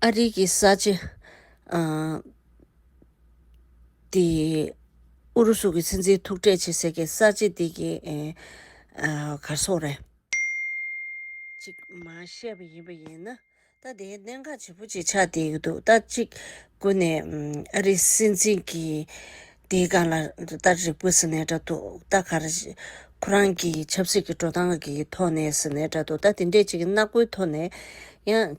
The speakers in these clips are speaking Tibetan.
ཨ་རིག་གི་ས་ཆ། དེ། ཨུ་རུ་སུ་གི་སྲིད་འཛིན་ཐུག་འཕྲད་བྱེད་ཟེར་མཁན་ས་ཆ་དེ་གི། གར་སོང་རེད། ཅིག་མ་བཤད་པ་ཡིན་པ་ཡིན་ན། ད་དེའི་གནད་འགག་ཆེན་པོ་ཅིག་ཆགས་བསྡད་ཡོད་འདུག་ད་ཅིག་དགོས་ནས། ཨ་རིའི་སྲིད་འཛིན་གི། དེའི་སྒང་ལ་ད་རེག་པོ་ཟེར་ནས་འདྲ་འདུག་ད་ག་རེ། ཁོ་རང་གི་ཆབ་སྲིད་ཀྱི་འགྲོ་སྟངས་ཀྱི་ཐོག་ནས་ཟེར་ནས་འདྲ་འདུག་ད་དེ་འདྲས་ཅིག་ནག་པོའི་ཐོག་ནས་ཡང།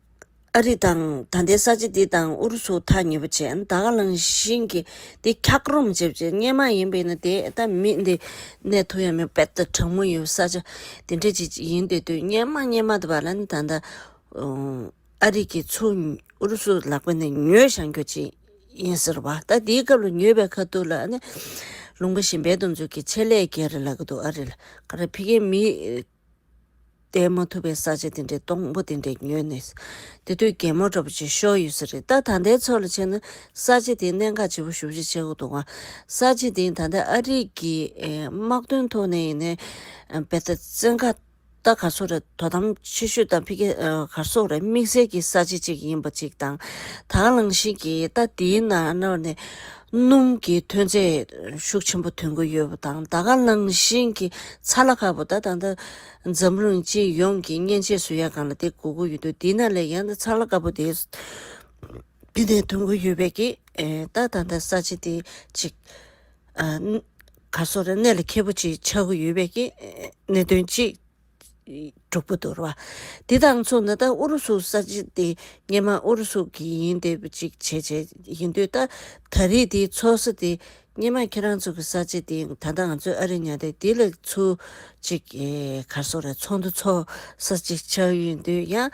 ཨ་རི་དང་ད་ལྟའི་ས་ཆ་འདི་དང་ཨུ་རུ་སུ་ཐག་ཉེ་པོ་བྱས་ད་ག་ལང་བཞིན་གྱི་འདི་འཁྱག་རོམ་བྱེད་བྱེད་སྙན་མ་ཡིན་པའི་ནི་དེ་ད་མི་འདི་གནས་ཐུག་ཡ་མི་དཔལ་དུ་དྲང་མོ་ཡོད་ས་ཆ་འདི་འདྲ་ཅིག་ཡིན་དེ་དུས་སྙན་མ་སྙན་མ་དུ་བ་ལ་ནི་ད་ད་ཨ་རི་གྱི་ཚུ་ཨུ་རུ་སུ་ལག་པ་ནས་ཉོས་ཞང་རྒྱོ་ཅིག་ཡིན་ཟེར་བ་ད་འདིའི་སྐབས་ལ་ཉོས་པའི་ཁ་ཐུག་ལ་ནི་ལུང་པ་བཞིན་འབད་དུ་འཛུགས་ཀྱི་ཆེད་ལས་ཀྱི་རེད་ལག་གི་འདུག་ཨ་རི་ལ་ཁ་ར་ཕི་ཁའི་མི་བསྡད་མ་ཐུབ་པའི་ས་ཆ་དེ་འདྲའི་སྡོང་པོ་དེ་འདྲས་ཉོས་ནས། དེ་དུས་རྒན་མོ་འདྲ་པོ་ཆེ་ཤོས་ཡོད་ས་རེད་ད་ད་ལྟའི་ཚོད་ལ་ཕྱིན་ན་ས་ཆ་དེའི་གནད་འགག་ཆེ་པོ་ཞུ་བཞི་ཆེ་གོ་འདུག་ང། ས་ཆ་དེ་ད་ལྟ་ཨ་རིག་གི་དམག་དོན་ཐོག་ནས་ཡིན་ནའི་བལ་ད་བཙན་ཁ་ད་གར་སོག་ར་དོ་དམ་ཆེ་ཤོས་དང་ཕི་གེ་གར་སོག་ར་དམིགས་བསལ་གྱི་ས་ཆ་ཅིག་ཡིན་པ་ཅིག་དང། དྭང་བླངས་ཤིག་གིས་ད་དེའི་ནང་ནས་སྣུམ་གྱི་ཐོན་རྫས་ཤུགས་ཆེན་པོ་ཐོན་གྱི་ཡོད་པ་དང་ད་ག་ནང་བཞིན་གྱི་ཚ་ལ་ཁ་པོ་ད་ད་འཛམ་གླིང་སྤྱི་ཡོངས་ཀྱི་མཉེན་ཆས་སུ་ཡ་གང་ལ་དེ་གོ་གི་ཡོད་དུས་འདི་ན་ལས་ཀྱང་ད་ཚ་ལ་ཁ་པོ་དེ་འདི་ནས་ཐོན་གྱི་ཡོད་པས་ཀྱིས་ད་ད་ད་ས་བྱི་དེ་ཅིག་ག་སོ་ར་གནས་ལ་ཁེ་པོ་ཅིག་ཆགས་གྱི་ཡོད་པས་ཀྱིས་གནད་དོན་ཅིག་དྲུག་པོ་དོར་བ། དེ་དང་མཚུངས་ན་ད་ཨུ་རུ་སུ་ས་ཆ་དེ་ངེད་མ་ཨུ་རུ་སུ་གི་ཡིན་དེ་གཅིག་བྱས་བྱས་ཡིན་དུས་ད་ད་རེས་དེའི་ཚོགས་ས་དེ་ངེད་མ་ཁྱེད་རང་ཚོ་གི་ས་ཆ་དེ་ད་ད་ང་ཚོའི་ཨ་རི་ཉག་དེ་དེ་ལས་ཚུ་གཅིག་གར་སོང་རེད་ཚོགས་འདུ་ཚོགས་ས་གཅིག་ཆགས་ཡོད་དུས་ཡང།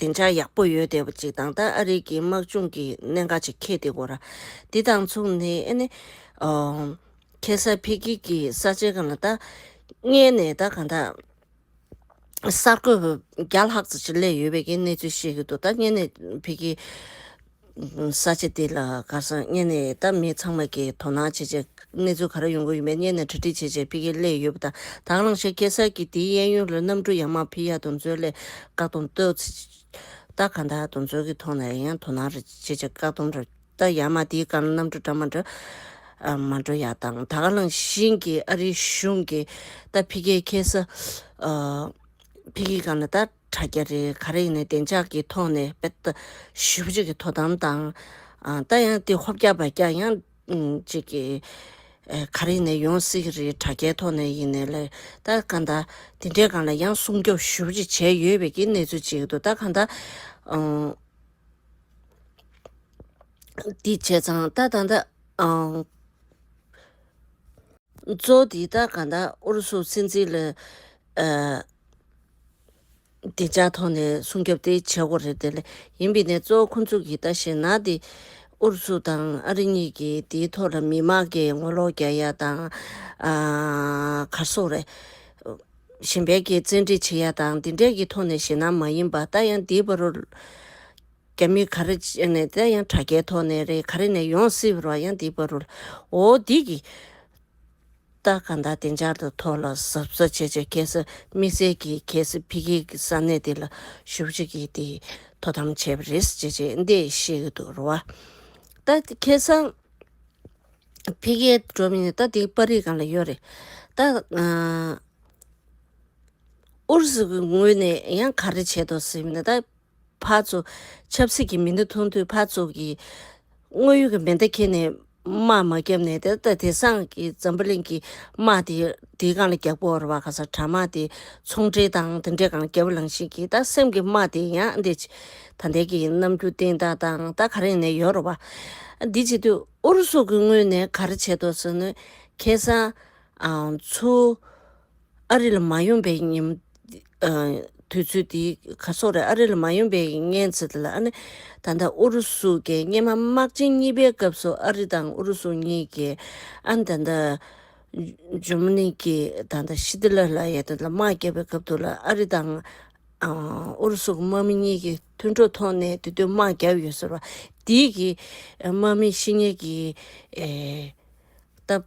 བདེ་འཇགས་ཡག་པོ་ཡོད་བསྡད་པ་ཅིག་དང་ད་ཨ་རིག་གི་དམག་སྦྱོང་གི་གནད་འགག་ཅིག་ཁེལ་བསྡད་གོ་ར། འདི་དང་མཚུངས་ནི་ཨ་ནི། ཁེ་སར་ཕེ་ཁིལ་གྱི་ས་ཆའི་གམ་ལ་ད། བསྙལ་ནས་ད་གང་དག། གསར་འགོད་པ་བརྒྱ་ལྷག་ཙམ་ཞིག་སླེབས་ཡོད་བས་ཀྱི་གནས་ཚུལ་བཤད་ཀྱི་འདུག་ད་བསྙལ་ནས་ཕེ་ཁིལ། ས་ཆ་དེ་ལ་སྒར་ས་གཉེར་ནས་ད་མི་ཚང་མ་གིས་དོ་སྣང་བྱེད་ཆེད། གནས་ཚུལ་ག་རེ་ཡོང་གི་ཡིན་པའི་གཉེར་ནས་གྲ་སྒྲིག་བྱེད་ཆེད་ཕི་ཀེ་ལས་ཡོད་པ་དང་དྭགས་རླངས་ཤོད་སྐྱེལ་སར་གྱི་དེའི་གཡས་གཡོན་རུ་གནམ་གྲུ་ཡང་མང་ཕི་ཡ་དུ་མཛོད་ལས་བཀག་སྡོམ་གཏོད་ཚེ། ད་ག་ད་དུ་མཛོད་ཀྱི་ཐོག་ནས་ཡང་དོ་སྣང་རེ་བྱེད་ཆེད་བཀག་སྡོམ་རེ། ད་ཡང་མ་དེའི་སྒར་གནམ་གྲུ་འདྲ་མ་འདྲ། མ་འགྲོ་ཡ་དང་དྭགས་རླངས་ཤིང་གིས་ཨ་རིའི་གཞུང་གིས་ད་ཕི་ཀེའི་ཁེ་ས། ཕི་ཀེའི་སྒང་ལ་ད། དྲ་རྒྱ་རེ་ག་རེ་ཡིན་ན་བདེ་འཇགས་ཀྱི་ཐོག་ནས་དཔེ་ལྟ་ཞིབ་བྱེད་ཀྱི་དོ་དམ་དང། ད་ཡང་དེ་ཧོབ་རྒྱག་བར་རྒྱག་ཡང། གཅིག་གི། ག་རེ་ཡིན་ན་ཡོང་སྲིད་ཀྱི་རེད་དྲ་རྒྱའི་ཐོག་ནས་ཡིན་ནའི་ལས་ད་གང་ད། དེ་འདྲའི་སྒང་ལ་ཡང་སྲུང་སྐྱོབ་ཞིབ་བྱེད་བྱས་ཡོད་པའི་ཀྱི་གནས་ཚུལ་ཅིག་འདུག་ད་གང་ད། འདི་བྱས་ཙང་ད་ད་ད། གཙོ་བོ་འདི་ད་གང་ད་ཨུ་རུ་སུ་སྲིད་འཛིན་ལ། བདེ་འཇགས་ཐོག་ནས་སྲུང་སྐྱོབ་དེ་བྱེད་སྒོ་རེ་དེ་ལས་ཡིན་པས་ནས་གཙོ་བོ་ཁོ་ཚུགས་ཀྱིས་ལྟ་ཞེ་ན་དེ་ཨུ་རུ་སུ་དང་ཨ་རི་གཉིས་ཀྱིས་དེའི་ཐོག་ལ་མི་མང་གི་ངོ་ལོག་རྒྱག་ཡ་དང། གར་སོང་རེ། ཞིན་བལ་གྱི་བཙན་ཁྲིད་བྱེད་ཡ་དང་འདི་འདྲས་ཀྱི་ཐོག་ནས་ཞེ་ན་མ་ཡིན་པ་ད་ཡང་འདིའི་བར་རུ། རྒྱ་མི་ག་རེ་བྱས་ནས་ད་ཡང་དྲ་རྒྱའི་ཐོག་ནས་རེད་ག་རེ་ནས་ཡོང་སྲིད་བར་ཡང་འདིའི་བར་རུ། འོ་འདི་ཀྱི། སྟག་གང་དག་བདེ་འཇགས་དང་མཐོ་ལ་ཟབ་ས་བྱེད་ཆེད་གལ་སྲིད་དམིགས་བསལ་གྱིས་གལ་སྲིད་འཕེལ་རྒྱས་ཀྱི་ས་གནས་དེ་ལ་ཞུགས་རྒྱུ་གལ་ཏེ་དོ་དམ་བྱས་པ་རེད་ཅེས་རྗེས་འདེད་བཤད་ཀྱི་འདུག་རེད། ད་ཁེ་སང་འཕེལ་རྒྱས་འགྲོ་མིན་ནི་ད་དེ་པར་རིས་གང་ལ་ཡོད་རེད། ད་ཨུ་རུ་སུ་གྱི་ངོས་ནས་ཡང་ག་རེ་བྱེད་དོ་ཟེར་མིན་ད། ཕར་ཚུར། ཆབ་སྲིད་ཀྱི་མེ་མདའ་འཐུང་དུས་ཕར་ཚུར་གྱིས། དངོས་ཡོད་ཀྱི་མེ་མདའ་ཁྱེར་ནས། དམག་མ་བརྒྱབ་ནས་དེ་ལྟ་དེ་སངས་ཀྱི་འཛམ་བུ་གླིང་གི་དམག་དེ་དེའི་སྒང་ལ་བརྒྱབ་གོ་ར་བ་ག་སར་དྲག་དམག་དེ་ཚོང་འབྲེལ་དང་དེ་འདྲའི་སྒང་ལ་བརྒྱབ་ལང་ཤིང་གིས་ད་སེམས་ཀྱི་དམག་དེ་ཡང་འདི། ད་འདས་ཀྱི་ནམ་རྒྱུན་སྟེང་རྟགས་དང་ད་ག་རེ་ནས་ཡོད་ར་བ། འདི་བྱེད་དུས་ཨུ་རུ་སུ་གི་ངོས་ནས་ག་རེ་བྱེད་དོ་ཟེར་ནས། ཁེ་སང། ཚུར། ཨ་རི་ལ་མ་ཡོང་པའི་དུས་ཚོད་དེ་ག་སོགས་རེད། ཨ་རི་ལ་མ་ཡོང་པའི་གནས་ཚུལ་དེ་ལ་ཨ་ནི། ད་ལྟ་ཨུ་རུ་སུ་ཀའི་སྙེ་མ་དམག་ཆེན་གཉིས་པའི་སྐབས་སུ་ཨ་རི་དང་ཨུ་རུ་སུ་གཉིས་ཀྱིས་ཨ་ནི་ད་ལྟ། ཇུ་མ་ནི་ཀྱི་ད་ལྟ་ཤི་ཏི་ལར་ལ་ཡ་དེ་ལ་དམག་བརྒྱབ་པའི་སྐབས་དེ་ལ་ཨ་རི་དང། ཨུ་རུ་སུ་ཀའི་དམག་མི་གཉིས་ཀྱི་མཐུན་གྲོགས་ཐོག་ནས་དེ་དུས་དམག་བརྒྱབ་ཡོད་ཟེར་བ་དེའི་གི་དམག་མི་ཤི་ཉེ་གི་སྟབས།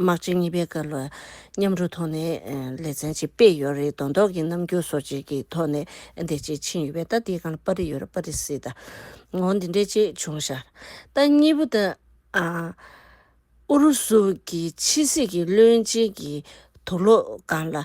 དམག་སྤྱི་གཉིས་པའི་སྐབས་ལ་མཉམ་རུབ་ཐོག་ནས་ལེ་ཚན་གཅིག་སྤེལ་ཡོད་རེད་དོན་ཐོག་གི་རྣམ་འགྱུར་སོགས་གཅིག་གི་ཐོག་ནས་འདི་གཅིག་ཕྱིན་ཡོད་པས་ད་འདི་གང་ལ་པར་རིས་ཡོད་རེད་པར་རིས་སི་ད་ངོ་འདི་འདྲས་ཅིག་བྱུང་ཤག་ད་གཉིས་པོ་ད་ཨུ་རུ་སུ་གི་ཕྱི་སྲིད་ཀྱི་བློན་ཆེན་གྱི་དུག་ལོག་སྒང་ལ་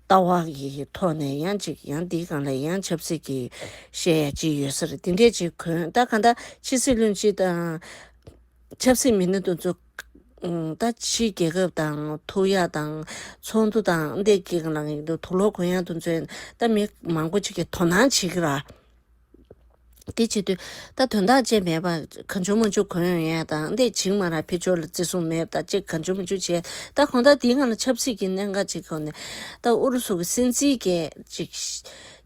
ལྟ་བ་ཡི་ཐོག་ནས་ཡང་གཅིག་ཡང་འདི་གང་ལ་ཡང་ཆབ་སྲིད་ཀྱི་བཤད་ཡ་ཅི་ཡོད་ཟེར་འདི་འདྲས་ཅིག་གོན་ད་ག་ད་ཕྱི་སྲིད་བློན་སྤྱི་དང། ཆབ་སྲིད་མི་སྣ་དུ་ཚོ། ད་ཕྱི་རྒྱལ་ཁབ་དང་ཐུག་ཡ་དང། ཚོགས་འདུ་དང་འདས་ཀྱི་ལ་ཡིན་དུ་ལོ་གོན་ཡ་དུ་ཚོས་ད་མི་མང་པོ་ཅིག་གི་དོ་སྣང་བྱེད་ཀྱི་ར། དེ་བྱེད་དུས་ད་དོན་དག་ཅན་མེད་པར་གང་བྱུང་མ་བྱུང་གང་ཡོད་ཡོད་དང་དེ་བྱིངས་མ་རག་འཕེལ་འབྱོར་ལ་བརྩི་སྲུང་མེད་པ་དང་ཅིག་གང་བྱུང་མ་བྱུང་བྱས་ད་གོང་ད་དེའི་སྔ་ལ་ཆབ་སྲིད་ཀྱི་གནད་འགག་ཅིག་ཁོ་ནས་ད་ཨུ་རུ་སུ་གི་སྲིད་འཛིན་སྐད་ཅིག་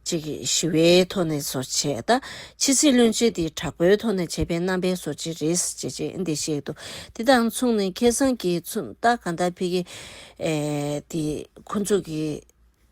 ཅིག་ཞི་བའི་ཐོག་ནས་བཟོ་བྱས་ད་ཕྱི་སྲིད་བློན་ཆེན་དེའི་དྲག་པོའི་ཐོག་ནས་བྱས་པའི་རྣམ་པའི་བཟོ་བྱེད་རེད་ཅེས་བྱས་འདི་བཤད་འདུག་དེ་དང་མཚུངས་ནས་ཁེ་བཟང་གིས་མཚུངས་ད་གང་ད་ཕི་གེ་དེ་ཁོ་ཚོ་གི།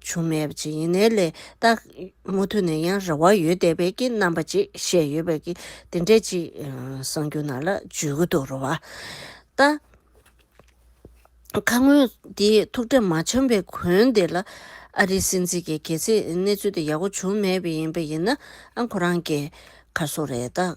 བྱུང་མེད་པ་ཅིག་ཡིན་ནའི་ལས་རྟགས། མུ་མཐུད་ནས་ཡང་རེ་བ་ཡོད་བསྡད་པའི་ཀྱི་རྣམ་པ་ཅིག་བཤད་ཡོད་པའི་ཀྱི་དེ་འདྲས་ཅིག་གསང་རྒྱུ་ནང་ལ་འཇུས་གི་འདུག་རེ་བ་ལྟ། ཁ་སྔོན་འདི་ཐུགས་འཕྲད་མ་བྱུང་པའི་གོན་དེ་ལ་ཨ་རིའི་སྲིད་འཛིན་གྱི་གལ་སྲིད་གནས་ཚུལ་དེ་ཡག་པོ་བྱུང་མེད་པ་ཡིན་པ་ཡིན་ན་ཨང་ཁོ་རང་གི་ཁ་སོ་རེད་ད།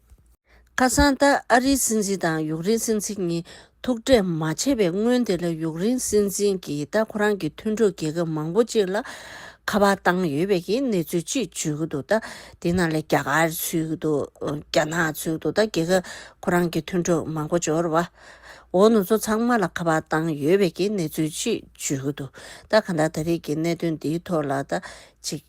ཁ་སང་ད་ཨ་རིའི་སྲིད་འཛིན་དང་ཡུག་རེན་སྲིད་འཛིན་གཉིས་ཐུག་འཕྲད་མ་བྱས་པའི་སྔོན་དེ་ལ་ཡུག་རེན་སྲིད་འཛིན་གྱིས་ད་ཁོ་རང་གི་མཐུན་གྲོགས་རྒྱལ་ཁབ་མང་པོ་གཅིག་ལ་ཁ་པར་བཏང་ཡོད་པའི་གི་གནས་ཚུལ་གཅིག་བརྗོད་ཀྱི་འདུག་ད་དེ་ནང་ལས་རྒྱ་གར་ཚུད་ཀྱི་འདུག་རྒྱ་ནག་ཚུད་ཀྱི་འདུག་ད་རྒྱལ་ཁབ་ཁོ་རང་གི་མཐུན་གྲོགས་མང་པོ་འབྱོར་བ་འོ་ནུ་ཚོ་ཚང་མ་ལ་ཁ་པར་བཏང་ཡོད་པའི་གི་གནས་ཚུལ་གཅིག་བརྗོད་ཀྱི་འདུག་ད་ག་འདྲ་ད་རིགས་ཀྱི་གནད་དོན་འདིའི་ཐོག་ལ་ད་ཅིག་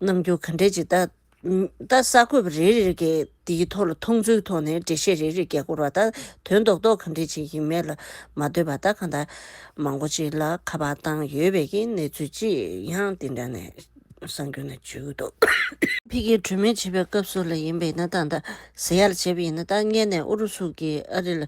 གནང་རྒྱུ་ག་འདྲས་ཅིག་ད། ད་ས་ཁུབ་རེ་རེར་གྱི་དེའི་ཐོག་ལ་མཐོང་ཚུལ་ཐོག་ནས་འགྲེལ་བཤད་རེ་རེ་རྒྱག་དགོས་ར་ད་དོན་རྡོག་རྡོག་གང་འགྲིག་ཅིག་ཡིན་མེད་ལ་མ་ལྟོས་པ་ད་གང་ད་མང་པོ་ཅིག་ལ་ཁ་པར་བཏང་ཡོད་པས་ཀྱི་གནས་ཚུལ་ཅི་ཡང་དེ་འདྲ་ནས་གསང་རྒྱུ་ན་བྱུས་གུ་འདུག། ཕི་གིའི་གྲོས་མོལ་བྱེད་པའི་སྐབས་སུ་ལ་ཡིན་པས་ན་ད་ད་ཟེར་ཡག་ལ་བྱས་པས་ཡིན་ན་ད་བསྙད་ནས་ཨུ་རུ་སུ་གིས་ཨ་རི་ལ་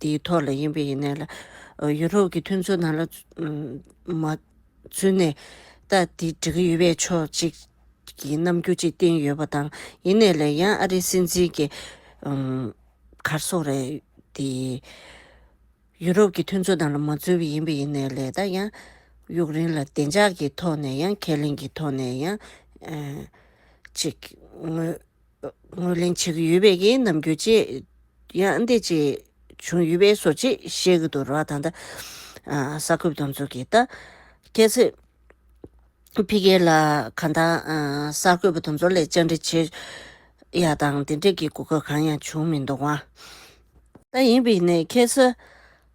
དེའི་ཐོག་ལ་ཡིན་པ་ཡིན་ནའི་ལ། ཡུ་རོབ་ཀྱི་མཐུན་ཚོགས་ནང་ལ། མ། ཚུན་ནས། ལྟ། དེ་འགྲིག་གི་ཡོད་པས་ཕྱོགས་གཅིག། གི་རྣམ་འགྱུར་ཅིག་བསྟན་ཡོད་པ་དང། ཡིན་ནའི་ལ་ཡང་ཨ་རིའི་སྲིད་འཛིན་གྱི། གར་སོང་རེད། དེ། ཡུ་རོབ་ཀྱི་མཐུན་ཚོགས་ནང་ལ་མ་འཛུལ་བ་ཡིན་པ་ཡིན་ནའི་ལས་ད་ཡང། ཡུཀ་རེན་ལ་བདེ་འཇགས་ཀྱི་ཐོག་ནས་ཡང་ཁས་ལེན་གྱི་ཐོག་ནས་ཡང། ཅིག། ངོས། ངོས་ལེན་བྱེད་ཀྱི་ཡོད་པས་ཀྱི་ནམ་རྒྱུན་ཅེ་ཡང་འདི་ཅེས་བྱུང་ཡོད་པས་སོ་ཅེས་བཤད་ཀྱི་འདུག་ར་བ་ད་ལྟ་ས་ཁུབ་དང་མཚུར་གྱི་རྟ་ཁྱད་ཚོས་ཕི་གེ་ལ་ག་ད་ས་ཁུབ་དང་མཚུར་ལས་བཅར་འདྲི་བྱེད་ཡ་དང་དེ་འདྲ་གྱི་གོ་སྐབས་གང་ཡང་བྱུང་མི་འདུག་བ་ད་ཡིན་པས་ནས་ཁྱེད་ས།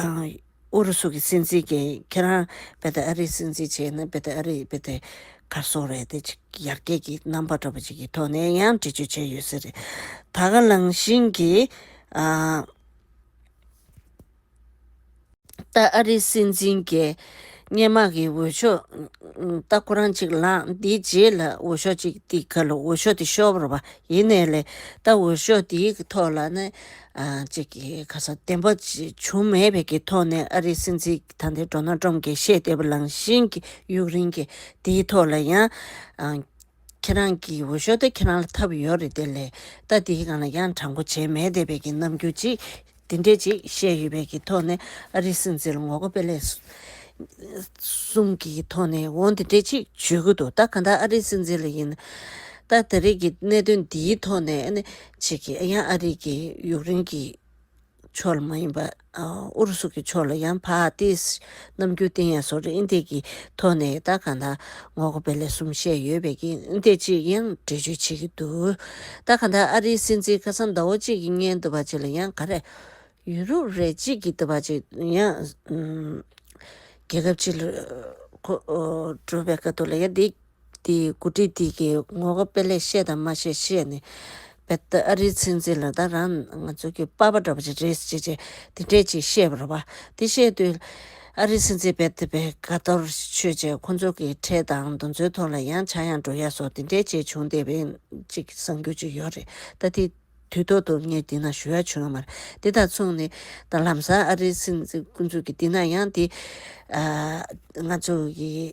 ཨུ་རུ་སུ་གི་སྲིད་འཛིན་གྱིས་ཁྱེད་རང་བེ་ཏི་ཨ་རིའི་སྲིད་འཛིན་བྱས་ན་བེ་ཏི་ཨ་རི་བེ་ཏི་གར་སོང་རེད་དེ་ཅིག་ཡར་རྒྱས་ཀྱི་རྣམ་པ་འགྲོ་བ་ཅིག་གི་ཐོག་ནས་ཡང་འདྲི་གཅོད་བྱས་ཡོད་ས་རེད། ད་ག་ལང་བཞིན་གྱི་ཏ་ཨ་རི་སྲིད་འཛིན་གྱིས་སྙན་མག་གི་འོས་ཤོག་ཏག་ཁོ་རང་ཅིག་ལངས་དེའི་རྗེས་ལ་འོས་ཤོག་ཅིག་ཏིག་ག་ལ་འོས་ཤོག་དེ་ཤོར་བ་ཡིན་ནའི་ལེ་ད་འོས་ཤོག་དེའི་ཐོག་ལ་ནི་ཅིག་གིས་ཁ་ས་བདེན་པ་བྱུང་མེད་པའི་ཀྱི་ཐོག་ནས་ཨ་རིའི་སྲིད་འཛིན་ད་ལྟའི་འགྲོ་ན་འགྲོམ་གྱི་ཤེས་བདེ་པོ་ལངས་བཞིན་གྱི་ཡུག་རིན་གྱི་དེའི་ཐོག་ལ་ཡང། ཁྱེད་རང་གི་འོས་ཤོག་དེ་ཁྱེད་རང་ལ་འཐབ་ཡོད་རེད་དེ་ལས་ལྟ་དེའི་སྒང་ལ་ཡང་དྲང་པོ་བྱས་མེད་བསྡད་པའི་ཀྱི་རྣམ་འགྱུར་ཅིག་དེ་འདྲས་ཅིག་བཤད་ཡོད་པའི་ཀྱི་ཐོག་ནས་ཨ་རིའི་སྲིད་འཛིན་ལ་ངོ་དགའ་དཔེ་ལེགས། གསུམ་གྱི་ཐོག་ནས་འོང་དེ་འདྲས་ཅིག་བརྗོད་ཀྱི་འདུག་ད་ག་འདྲ་ཨ་རིའི་སྲིད་འཛིན་ལ་ཡིན། ད་ད་རེས་ཀྱི་གནད་དོན་འདིའི་ཐོག་ནས་ཨ་ནི། བྱེད་ཀྱི་ཨ་ཡང་ཨ་རིག་གི་ཡུག་རེན་གྱི་ཕྱོགས་ལ་མ་ཡིན་པར་ཨུ་རུ་སུ་གྱི་ཕྱོགས་ལ་ཡང་བྷ་ཏིས་ནམ་རྒྱུན་བསྟན་ཡང་སོ་རིན་ཏེ་གྱི་ཐོག་ནས་ད་གང་ད་ངོ་རྒོ་བེ་ལས་གསུམ་བཤད་ཡོད་པའི་གི་ཏེ་ཅིག་ཡང་འགྲེལ་བརྗོད་བྱེད་ཀྱི་འདུག་ད་གང་ད་ཨ་རིའི་སྲིད་འཛིན་ཁ་སང་ཟླ་བོ་གཅིག་གི་བརྙན་དུ་བ་ཅིག་ལ་ཡང་ག་རེ་ཡུ་རུབ་རེ་གཅིག་གི་ཏུ་བ་ཅིག་ཡང་རྒྱལ་ཁབ་ཅིག་ལ་འགྲོ་བའི་ཀ་ཏུ་ལ་ཡང་འདི། འདི་མགོ་ཁྲིད་འདི་གི་ངོ་དགའ་དཔེ་ལེགས་བཤད་དང་མ་བཤད་བཤད་ནས་བལ་ད་ཨ་རིའི་ཚན་རྩིས་ལ་ད་རང་ང་ཚོ་གི་དཔའ་བ་འདྲ་བ་ཅིག་རེད་ཅེས་ཅེས་འདི་འདྲས་ཅིག་བཤད་པར་བ་འདི་བཤད་དུས། ཨ་རིའི་ཚན་རྩིས་བལ་ད་པའི་དགའ་གཏོར་ཆོས་ཅེས་ཁོ་ཚོ་གི་ཁྲལ་དང་འདུ་འཛོའི་ཐོག་ལ་ཡང་བྱ་ཡང་འགྲོ་ཡ་སོགས་འདི་འདྲས་ཅིག་བྱུང་བསྡད་པའི་ཅིག་གསང་རྒྱུ་ཅིག་ཡོད་རེད་ད་འདི་དུས་ཐོག་ཏུ་ངས་འདི་ན་ཞུ་ཡ་བྱུང་ཡོད་མ་རེད་འདི་དང་མཚུངས་ནི་ད་ལམ་སང་ཨ་རིའི་ཚན་རྩིས་ཀུན་ཚུགས་ཀྱི་འདི་ན་ཡང་འདི་ང་ཚོ་གི།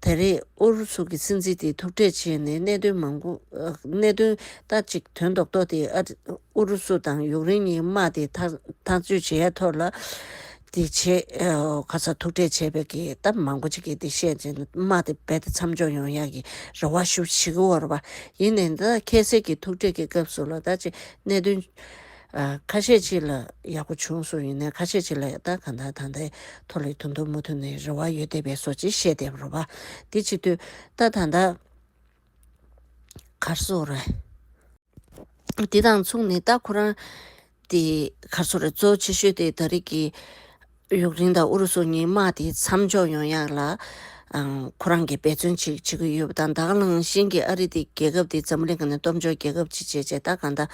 ད་རེས་ཨུ་རུ་སུ་གྱི་སྲིད་འཛིན་དེས་ཐུག་འཕྲད་བྱས་ནས་གནད་དོན་མང་པོ། གནད་དོན་ལྟ་ཅིག་དོན་རྡོག་རྡོག་དེ་ཨུ་རུ་སུ་དང་ཡུཀ་རེན་གཉིས་དམག་དེ་ཐག་གཅོད་བྱེད་ཡ་ཐོར་ལ། དེ་བྱེད་ག་ས་ཐུག་འཕྲད་བྱས་པའི་གི་སྟབས་མང་པོ་ཅིག་གིས་དེ་བཤད་ཅིང་དམག་དེ་རྦད་དེ་མཚམས་འཇོག་ཡོང་ཡག་གི་རེ་བ་ཞུ་བཞིན་འོར་བ་ཡིན། ད་ཁྱད་བསད་ཀྱི་ཐུག་འཕྲད་ཀྱི་སྐབས་སུ་ལ་ད་ཅིག་གནད་དོན། ཁ་ཤས་གཅིག་ལ་ཡག་པོ་བྱུང་སོང་ཡིན་ནའི་ཁ་ཤས་གཅིག་ལ་ཡག་ད་གང་ལྟར་ད་ལྟའི་ཐོག་ལས་དོན་དུ་མུ་ཐུ་ནས་རེ་བ་ཡོད་བསྡད་པས་སོ་ཅི་བཤད་བསྡད་རོགས་པ། དེ་གཅིག་དུས་ད་ད་ད། གར་སོ་རེ། དེ་དང་མཚུངས་ནས་ད་ཁོ་རང། དེ་གར་སོ་རེ་གཙོ་བོ་ཆེ་ཤོས་དེ་ད་རིགས་ཀྱི། ཡུཀ་རེན་དང་ཨུ་རུ་སུ་གཉིས་དམག་དེ་མཚམས་འཇོག་ཡོང་ཡག་ལ། ཁོ་རང་གིས་འབད་བརྩོན་ཅིག་བྱེད་ཀྱི་ཡོད་པ་དང་དྭགས་གླང་ཤིན་གྱི་ཨ་རི་དེ་རྒྱལ་ཁབ་དེ་འཛམ་གླིང་ག་ནས་སྟོབས་འབྱོར་རྒྱལ་ཁབ་ཅིག་བྱེད་ཅེས་ཏཱ་ག་ནྡཱ།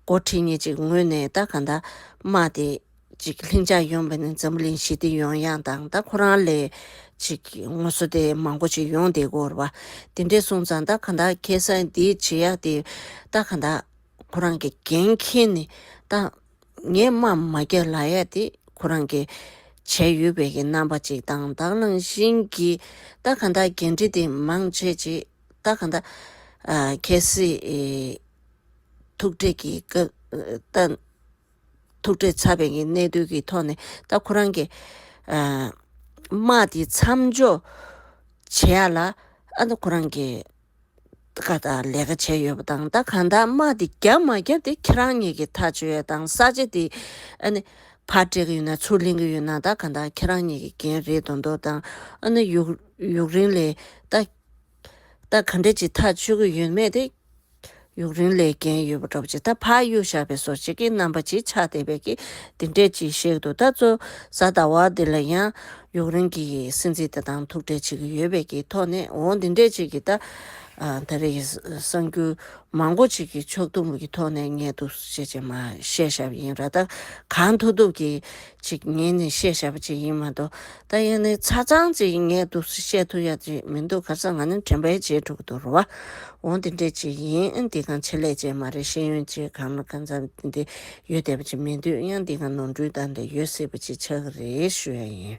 མགོ་ཁྲིད་གཉིས་ཅིག་ངོས་ནས་ཏཱ་ག་ནྡཱ་དམག་དེ། ཅིག་ལྷིང་འཇགས་ཡོང་བས་ནི་འཛམ་གླིང་ཞི་བདེ་ཡོང་ཡག་དང་ཏཱ་ཁོ་རང་ལས། ཅིག་ངོ་བསོ་དེ་མང་པོ་ཅིག་ཡོང་བདེ་གོ་ར། དེ་འདྲས་སོང་ཙང་ཏཱ་ག་ནྡཱ་ཁེ་སང་འདི་བྱེད་ཡག་དེ། ཏཱ་ག་ནྡཱ། ཁོ་རང་གི་འགན་ཁྱེར་ནས་ཏཱ། ངས་སྨྲ་མ་བརྒྱ་ལ་ཡ་དེ་ཁོ་རང་གི་བྱས་ཡོད་པའི་གི་རྣམ་པ་ཅིག་དང་བདག་ནང་བཞིན་གྱི་རྟ་ག་འདའ་འགན་འཁྲི་དེ་མང་བྱེད་ཅིག་རྟ་ག་འདའ། གལ་སྲིད། ཐུག་འཕྲད་ཀྱི་སྐབས་རྟ། ཐུག་འཕྲད་ཚར་བའི་གི་གནད་དོན་གྱི་ཐོག་ནས་རྟ་ཁོ་རང་གི། དམག་དེ་མཚམས་འཇོག་བྱེད་ཡ་ལ་ཨ་ན་ཁོ་རང་གི། བཀའ་ལྟར་ལས་ཀ་བྱས་ཡོད་པ་དང་བདག་གང་དག་དམག་འདི་རྒྱབ་མ་རྒྱབ་དེ་ཁྱེད་རང་གཉིས་ཀྱི་ཐག་ཆོད་དང་ས་ཆ་འདི་ཕར་སྤྲད་གི་ཡོད་ན་ཚུར་ལེན་གི་ཡོད་ན་བདག་གང་དག་ཁྱེད་རང་གཉིས་ཀྱི་འགན་རེད་དོ་མདོ་དང་ཡུག་རིང་ལས་ད་ག་འདྲ་ཅིག་ཐག་ཆོད་གི་ཡོད་མེད་དེ་ཡུག་རིན་ལས་རྒྱན་ཡོད་པ་འདྲ་བ་ཅིག་ད་ཕག་གཡུ་བཞག་པའི་སོར་བྱེད་ཀྱི་རྣམ་པ་ཅིག་ཆགས་བསྡད་པས་ཀྱི་འདི་འདྲས་ཅིག་གཤེགས་འདུག་ད་གཙོ་གཟའ་ཟླ་བ་འདི་ལ་ཡང་ཡུག་རིན་གྱི་སྲིད་འཛིན་དེ་དང་ཐུག་འཕྲད་བྱེད་ཀྱི་ཡོད་པས་ཀྱི་ཐོག་ནས་འོ་འདི་འདྲས་ཅིག་གི་ད་ད་རེས་གསང་རྒྱུ་མང་པོ་ཅིག་གི་ཕྱོགས་བསྡོམས་ཀྱི་ཐོག་ནས་ངེས་འདུག་ཞེས་ཅེ་མ་ཤེས་ཞབས་ཡིན་ར་ད་གང་ཐུབ་ཐུབ་ཀྱི་ཅིག་ངས་ནི་བཤད་བྱ་བ་ཅིག་ཡིན་མ་གཏོགས་ད་ཡིན་ནི་ཚ་ཚང་ཅིག་ཡིན་ངས་དུག་སུ་བཤད་ཐུབ་ཡ་ཅིག་མི་འདུག་ག་ས་ང་ནི་དྲན་པའི་རྗེས་འགྲོ་གི་འདུག་རོ་བ། འོ་འདི་འདྲས་ཅིག་ཡིན་འདི་གང་ཆེད་ལས་ཅན་མ་རེད་ཤེས་ཡོན་ཅེས་གང་ན་གང་འཚམ་འདི་འདི་ཡོད་བསྡད་པ་ཅིག་མི་འདུག་ཡང་འདི་གང་ནོར་འཁྲུལ་དག་འདི་ཡོད་སྲིད་པ་ཅིག་ཆགས་ཀྱི་རེད་ཞུ་ཡ་ཡིན།